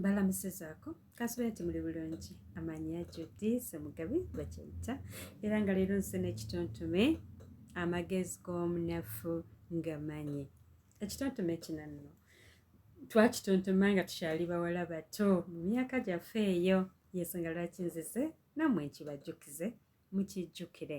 balamusizaako kansula nti muli bulungi amanyi ajudi semugabi gwekyeyita era nga leero nsi n'ekitontume amagezi g'omunafu nga manyi ekitontume kino nno twakitontoma nga tukyali bawala bato mu myaka gyaffe eyo yensonga lwaki nzize nammwe nkibajjukize mukijjukire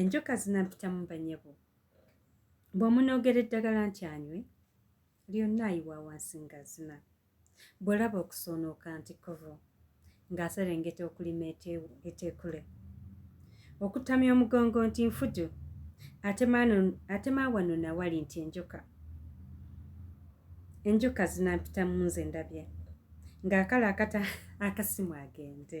enjoka zinampitamu banyabo bw'omunoogera eddagala nti anywe lyonna ayiwa wansi ngazina bw'olaba okusoonoka nti kovo ng'aserengeta okulima eteekule okutamya omugongo nti nfudu atema wano nawali nti enjoka enjoka zinampitamu nze ndabye ng'akala akata akasimu agende